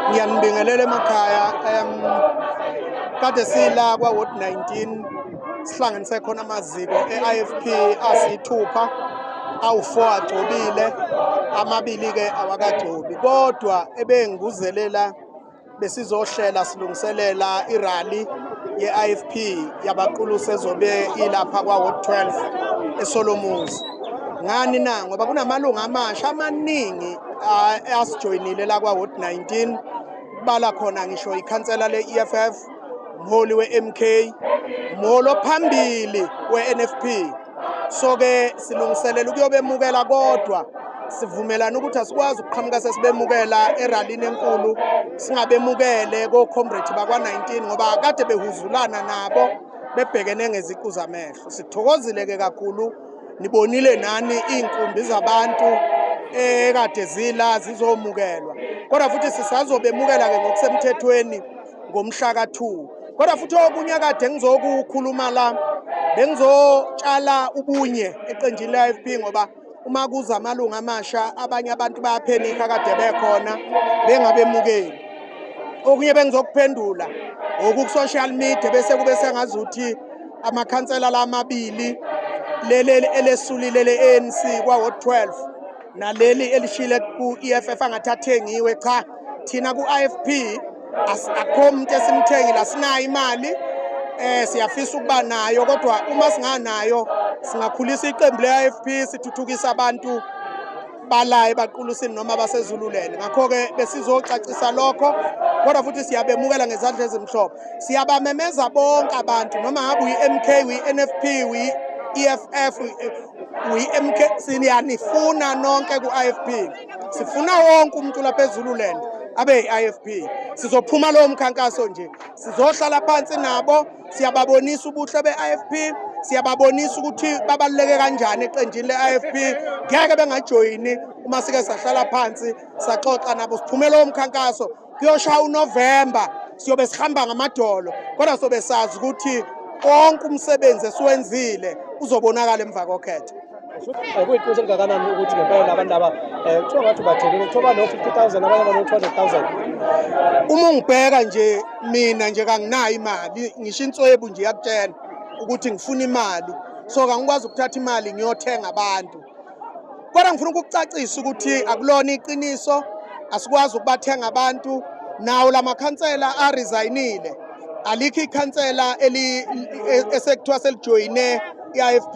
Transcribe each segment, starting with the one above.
ngiyanibingelela emakhaya um kade sila kwa-ward 19 sihlanganise khona amaziko e-ifp asiyithupha awu-four agcobile amabili-ke awakagcobi kodwa ebenguzelela besizohlela silungiselela irally ye-ifp yabaqulusi ezobe ilapha kwa-ward 12 esolomuzi ngani na ngoba kunamalungu amasha amaningi asijoyinile la kwa ward 19 bala khona ngisho ikhansela le-EFF mholi we-MK mholi ophambili we-NFP so ke silungiselela ukuyobemukela kodwa sivumelana ukuthi asikwazi ukuqhamuka sesibemukela eralini enkulu singabemukele kocomrade bakwa-19 ngoba kade behuzulana nabo bebhekene ngeziqu zamehlo sithokozile-ke kakhulu nibonile nani iinkumbi zabantu ekade zila zizomukelwa kodwa futhi sisazobemukela ke ngokusemthethweni ngomhla ka-2 kodwa futhi okunye kade ngizokukhuluma la bengizotshala ubunye eqenjini le-f p ngoba uma kuza amalungu amasha abanye abantu bayaphenikha kade bekhona bengabemukeli okunye bengizokuphendula ngokuku-social media bese kube sengazuthi amakhansela lamabili leli elesulile le-anc kwaward 12 naleli elishile ku-eff angathi athengiwe cha thina ku-ifp akho muntu esimthengile asinayo imali eh siyafisa ukuba nayo kodwa uma singanayo singakhulisa iqembu le-ifp sithuthukisa abantu bala ebaqulusini noma basezululeni ngakho-ke besizocacisa lokho kodwa futhi siyabemukela ngezandla ezimhlophe siyabamemeza bonke abantu noma ngabe uyi-m k uyi-n f p uyi-e f f uyi-m k siyanifuna nonke ku-i f p sifuna wonke umuntu lapha ezululand abe-i f p sizophuma lowo mkhankaso nje sizohlala phansi nabo siyababonisa ubuhle be-ifp siyababonisa ukuthi babaluleke kanjani eqenjini le-ifp ngeke bengajoyini uma sike sahlala phansi saxoxa nabo siphumela womkhankaso kuyoshaya unovemba siyobe sihamba ngamadolo kodwa sobe sazi ukuthi konke umsebenzi esiwenzile uzobonakala emva kokhetho Eh, kuyiqiniso elingakanani ukuthi ngempela abantu laba eh, kuthiwa ngathi ubathelile kuthiwa bano-fifty thousand abanye bano-two hundred thousand uma ungibheka nje mina nje kanginayo imali ngisho inswebu nje yakutshela ukuthi ngifuna imali so kangikwazi ukuthatha imali ngiyothenga abantu kodwa ngifuna ukukucacisa ukuthi akulona iqiniso asikwazi ukubathenga abantu nawo la makhansela arisayinile alikho ikhansela e, esekuthiwa selijoyine i-ifp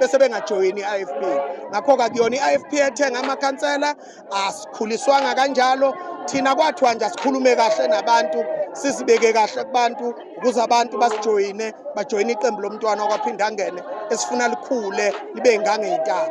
bese bengajoyini i-IFP ngakho-ke akuyona i-IFP ethenga amakhansela asikhuliswanga kanjalo thina kwathiwa nje asikhulume kahle nabantu sizibeke kahle kubantu ukuze abantu basijoyine bajoyine iqembu lomntwana okwaphinde angene esifuna likhule libe ingangeyintaba